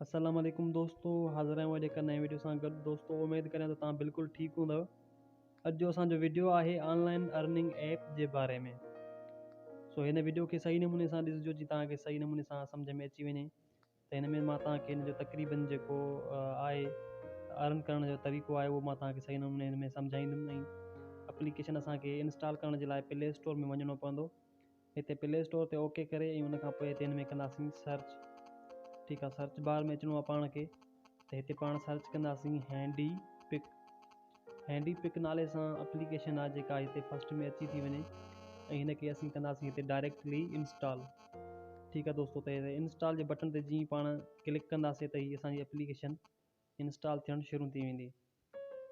السلام عليڪم دوستو حاضر آهيون اڄ هڪ نئين ويڊيو سان گڏ دوستو اميد ڪريان ته تان بلڪل ٺيڪ هوندو اڄ جو اسان جو ويڊيو آهي آن لائن ارننگ ايپ جي باري ۾ سو هن ويڊيو کي صحيح نموني سان ڏسجو جي تان کي صحيح نموني سان سمجھ ۾ اچي وڃي ته هن ۾ مان تان کي هن جو تقريبن جيڪو آهي ارن ڪرڻ جو طريقو آهي اهو مان تان کي صحيح نموني هن ۾ سمجھائيندم ۽ اپليڪيشن اسان کي انسٽال ڪرڻ جي لاء پلي اسٽور ۾ وڃڻو پوندو هتي پلي اسٽور تي اوڪي ڪري ۽ ان کان پوء هتي هن ۾ ڪنداسين سرچ ٺيڪ آهي سرچ بار ۾ اچڻو آهي پاڻ کي ته هتي پاڻ سرچ ڪنداسين هينڊي پڪ هينڊي پڪ نالي سان اپليڪيشن آهي جيڪا هتي فسٽ ۾ اچي ٿي وڃي ۽ هن کي اسين ڪنداسين هتي ڊائريڪٽلي انسٽال ٺيڪ آهي دوستو ته انسٽال جي بٽن تي جيئن پاڻ ڪلڪ ڪنداسين ته هي اسانجي اپليڪيشن انسٽال ٿيڻ شروع ٿي ويندي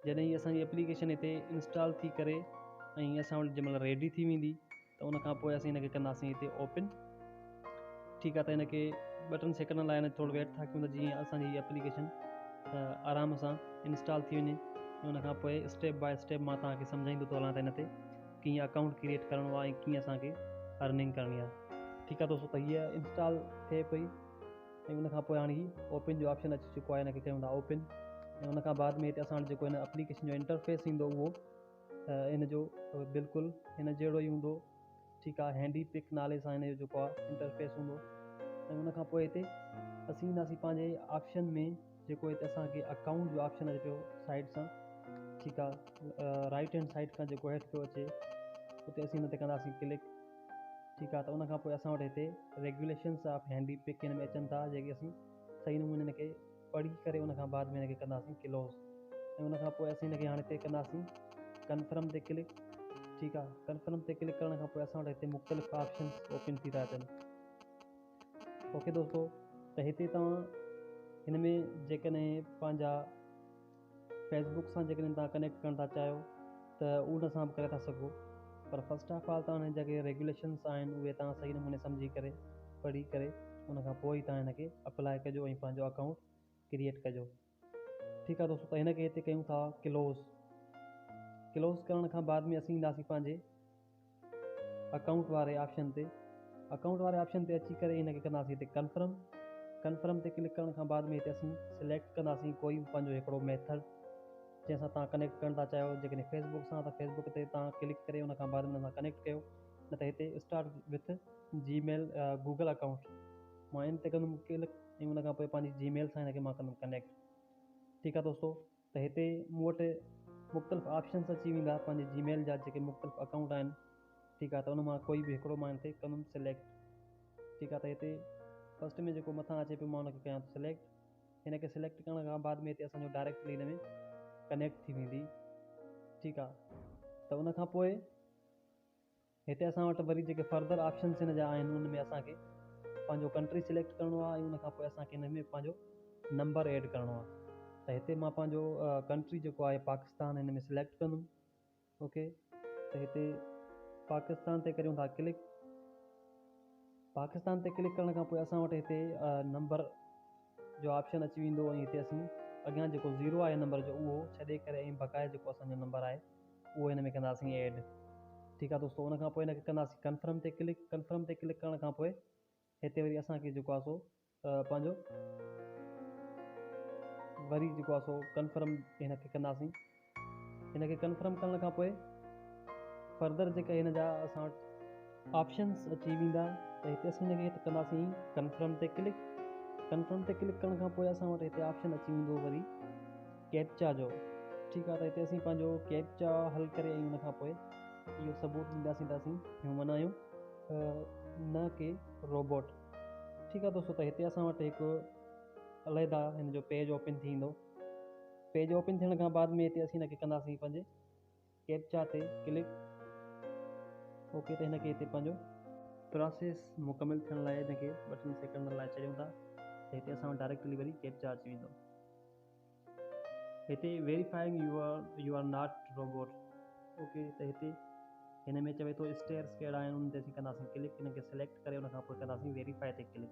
جڏهن هي اسانجي اپليڪيشن هتي انسٽال ٿي ڪري ۽ اسان وٽ جنهن مهل ريڊي ٿي ويندي ته ان کان پوء اسين هن کي ڪنداسين هتي اوپن ٺيڪ آهي ته هن کي ٻه ٽن سيڪنڊن لاء ٿورو ويٽ ٿا ڪيون ته جيئن اسانجي هي اپليڪيشن آرام سان انسٽال ٿي وڃي ان کان پوء اسٽيپ باء اسٽيپ مان توهان کي سمجهائيندو ٿو هلان ته هن تي ڪيئن اڪائونٽ ڪريئيٽ ڪرڻو آهي ڪيئن اسانکي ارننگ ڪرڻي آهي ٺيڪ آهي دوستو ته هي انسٽال ٿئي پئي ۽ ان کان پوء هاڻي هي اوپن جو آپشن اچي چڪو آهي ان کي ڪيون ٿا اوپن ۽ ان کان بعد ۾ هتي اسان وٽ جيڪو هن اپليڪيشن جو انٽرفيس ايندو اهو ان جو بلڪل هن جهڙو ئي هوندو ٺيڪ آهي هينڊي پڪ نالي سان هن جو جيڪو آهي انٽرفيس هوندو ۽ ان کان پوء هتي اسين اينداسين پنهنجي آپشن ۾ جيڪو هتي اسان کي اڪائونٽ جو آپشن اچي پيو سائيڊ سان ٺيڪ آ رائيٽ هينڊ سائيڊ کان جيڪو هيٺ پيو اچي اتي اسين ان تي ڪنداسين ڪلڪ ٺيڪ آ ته ان کان پوء اسان وٽ هتي ريگيوليشنس آف هينڊي پڪ هن ۾ اچن ٿا جيڪي اسين صحيح نموني ان کي پڙهي ڪري ان کان بعد ۾ ان کي ڪنداسين ڪلوز ۽ ان کان پوء اسين ان کي هاڻي هتي ڪنداسين ڪنفرم تي ڪلڪ ٺيڪ آ ڪنفرم تي ڪلڪ ڪرڻ کان پوء اسان وٽ هتي مختلف آپشنس اوپن ٿي ٿا اچن اوکي دوستو ته هتي توهان هن ۾ جيڪڏهن پنهنجا فيس بڪ سان جيڪڏهن توهان ڪنيڪٽ ڪرڻ ٿا چاهيو ته ان سان به ڪري ٿا سگهو پر فسٽ آف آل توهان جيڪي ريگوليشنس آهن اهي توهان صحيح نموني سمجهي ڪري پڙهي ڪري ان کان پوء ئي توهان هن کي اپلائي ڪجو ۽ پنهنجو اڪائونٽ ڪريئيٽ ڪجو ٺيڪ آ دوستو ته هن کي هتي ڪيون ٿا ڪلوز ڪلوز ڪرڻ کان بعد ۾ اسين اينداسين پنهنجي اڪائونٽ واري آپشن تي اڪائونٽ واري آپشن تي اچي ڪري هن کي ڪنداسين هتي ڪنفرم ڪنفرم تي ڪلڪ ڪرڻ کان بعد ۾ هتي اسين سليڪٽ ڪنداسين ڪوئي به پنهنجو هڪڙو ميٿڊ جنهن سان تان ڪنيڪٽ ڪرڻ ٿا چاهيو جيڪڏهن فيسبوڪ سان ته فيسبوڪ تي تان ڪلڪ ڪري ان کان بعد ۾ سان ڪنيڪٽ ڪيو نه ته هتي start with Gmail Google account مان ان تي ڪندم ڪلڪ ۽ ان کان پوء پنهنجي جي ميل سان هن کي مان ڪندم ڪنيڪٽ ٺيڪ آهي دوستو ته هتي مون وٽ مختلف آپشنس اچي ويندا پنهنجي جي ميل جا جيڪي مختلف اڪائونٽ آهن ٺيڪ آهي ته ان مان ڪوئي به هڪڙو مان هن تي ڪندم سليڪٽ ٺيڪ آهي ته هتي فسٽ ۾ جيڪو مٿان اچي پيو مان هن کي ڪيان ٿو سليڪٽ هن کي سليڪٽ ڪرڻ کان بعد ۾ هتي اسانجو ڊائريڪٽلي هن ۾ ڪنيڪٽ ٿي ويندي ٺيڪ آهي ته ان کان پوء هتي اسان وٽ وري جيڪي فردر آپشنس هن جا آهن ان ۾ اسان کي پنهنجو ڪنٽري سليڪٽ ڪرڻو آهي ۽ ان کان پوء اسان کي هن ۾ پنهنجو نمبر ايڊ ڪرڻو آهي ته هتي مان پنهنجو ڪنٽري جيڪو آهي پاڪستان هن ۾ سليڪٽ ڪندم اوڪي ته هتي پاڪستان تي ڪريون ٿا ڪلڪ پاڪستان تي ڪلڪ ڪرڻ کان پوء اسان وٽ هتي نمبر جو آپشن اچي ويندو ۽ هتي اسين اڳيان جيڪو زيرو آهي نمبر جو اهو ڇڏي ڪري ۽ بقايا جيڪو اسانجو نمبر آهي اهو هن ۾ ڪنداسين ايڊ ٺيڪ آ دوستو ان کان پوء هن کي ڪنداسين ڪنفرم تي ڪلڪ ڪنفرم تي ڪلڪ ڪرڻ کان پوء هتي وري اسان کي جيڪو آ سو پنهنجو وري جيڪو آ سو ڪنفرم هن کي ڪنداسين هن کي ڪنفرم ڪرڻ کان پوء فردر جيڪا هن جا اسان وٽ آپشنس اچي ويندا ته هتي اسين هن کي ڪنداسين ڪنفرم تي ڪلڪ ڪنفرم تي ڪلڪ ڪرڻ کان پوء اسان وٽ هتي آپشن اچي ويندو وري ڪيپچا جو ٺيڪ آ ته هتي اسين پنهنجو ڪيپچا حل ڪري ۽ ان کان پوء اهو ثبوت ڏينداسين ته اسين هيومن آهيون نه ڪي روبوٽ ٺيڪ آ دوستو ته هتي اسان وٽ هڪ عليحده هن جو پيج اوپن ٿيندو پيج اوپن ٿيڻ کان بعد ۾ هتي اسين هن کي ڪنداسين پنهنجي ڪيپچا تي ڪلڪ اوڪي تي هن کي هتي پنهنجو پراسيس مڪمل ٿيڻ لاء هن کي ٻه ٽن سيڪنڊن لاء ڇڏيون ٿا ته هتي اسان وٽ ڊائريڪٽلي وري ڪيپچا اچي ويندو هتي verifying you are you are not robot okay ته هتي هن ۾ چوي ٿو اسٽيئرس ڪهڙا آهن ان تي اسين ڪنداسين ڪلڪ هن کي سليڪٽ ڪري ان کان پوء ڪنداسين ويريفائي تي ڪلڪ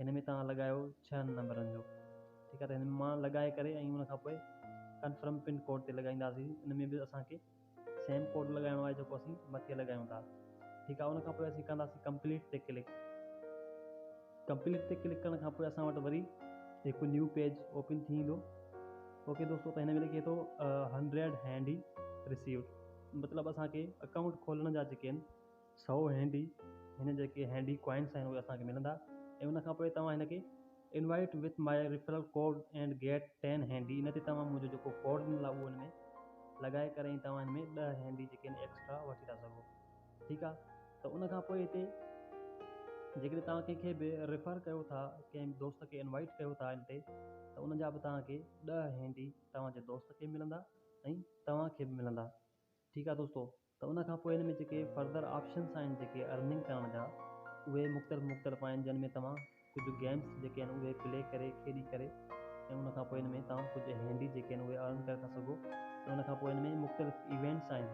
هن ۾ توهان لڳايو ڇهن نمبرن جو ٺيڪ آهي ته هن ۾ مان لڳائي ڪري ۽ ان کان پوء ڪنفرم پن ڪوڊ تي لڳائينداسين ان ۾ به اسان کي سيم ڪوڊ لڳائڻو آهي جيڪو اسين مٿي لڳايون ٿا ٺيڪ آهي ان کان پوء اسين ڪنداسين ڪمپليٽ تي ڪلڪ ڪمپليٽ تي ڪلڪ ڪرڻ کان پوء اسان وٽ وري هڪ نيو پيج اوپن ٿي ويندو اوڪي دوستو ته هن ۾ لکي ٿو هنڊريڊ هينڊ ريسيوڊ مطلب اسانکي اڪائونٽ کولڻ جا جيڪي آهن سو هينڊي هن جيڪي هينڊي ڪوائنس آهن اهي اسان کي ملندا ۽ ان کان پوء توهان هن کي invite with my referral code and get ten handy ان تي توهان منهنجو جيڪو ڪوڊ ڏنل آهي اهو هن ۾ لڳائي ڪري ۽ توهان هن ۾ ڏهه هينڊي جيڪي آهن ايڪسٽرا وٺي ٿا سگهو ٺيڪ آهي ته ان کان پوء هتي جيڪڏهن توهان ڪنهن کي به ريفر ڪيو ٿا ڪنهن دوست کي انوائيٽ ڪيو ٿا ان تي ته ان جا به توهان کي ڏهه هينڊي توهان جي دوست کي ملندا ۽ توهان کي به ملندا ٺيڪ آهي دوستو ته ان کان پوء ان ۾ جيڪي فردر آپشنس آهن جيڪي ارننگ ڪرڻ جا اهي مختلف مختلف آهن جن ۾ توهان ڪجهه گيمس جيڪي آهن اهي پلي ڪري کيڏي ڪري ۽ ان کان پوء ان ۾ توهان ڪجهه هينڊي جيڪي آهن اهي ارن ڪري ٿا سگهو ۽ ان کان پوء ان ۾ مختلف ايونٽس آهن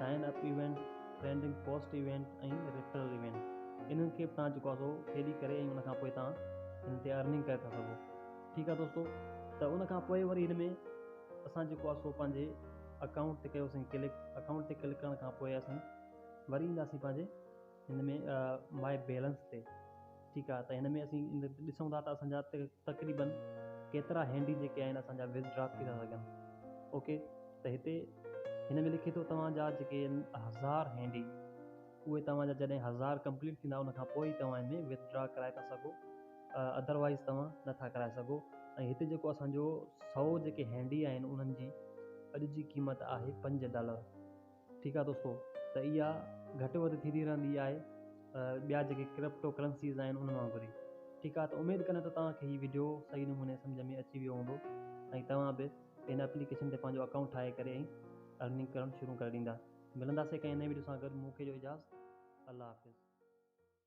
sign up event trending post event ۽ referral event انهن کي به توهان جيڪو آهي سو کيڏي ڪري ۽ ان کان پوء توهان هن تي ارننگ ڪري ٿا سگهو ٺيڪ آهي دوستو ته ان کان پوء وري هن ۾ اسان جيڪو آهي سو پنهنجي اڪائونٽ تي ڪيوسين ڪلڪ اڪائونٽ تي ڪلڪ ڪرڻ کان پوء اسين وري اينداسين پنهنجي هن ۾ مائي بيلنس تي ٺيڪ آهي ته هن ۾ اسين ڏسون ٿا ته اسان جا تقريبن ڪيترا هينڊي جيڪي آهن اسان جا وٿ ڊرا ٿي ٿا سگهن اوڪي ته هتي هن ۾ لکي ٿو توهان جا جيڪي هزار هينڊي اهي توهان جا جڏهن هزار ڪمپليٽ ٿيندا ان کان پوء توهان هن ۾ وٿ ڊرا ڪرائي ٿا سگهو اڌروائيز توهان نه ٿا ڪرائي سگهو ۽ هتي جيڪو اسان جو سؤ جيڪي هينڊي آهن انهن جي اڄ جي قيمت آهي پنج ڊالر ٺيڪ آهي دوستو ته اها گهٽ وڌ ٿيندي رهندي آهي ٻيا جيڪي ڪرپٽو ڪرنسيز آهن انهن وانگر ئي ٺيڪ آهي ته اميد ڪريان ته توهان کي هي ويڊيو صحيح نموني سمجھ ۾ اچي ويو هوندو ۽ توهان به ان اپليڪيشن تي پنهنجو اڪائونٽ ٺاهي ڪري ۽ ارننگ ڪرڻ شروع ڪري ڏيندا ملنداسي ڪنهن نئين ويڊيو سان گڏ مون کي جو اجازت الله حافظ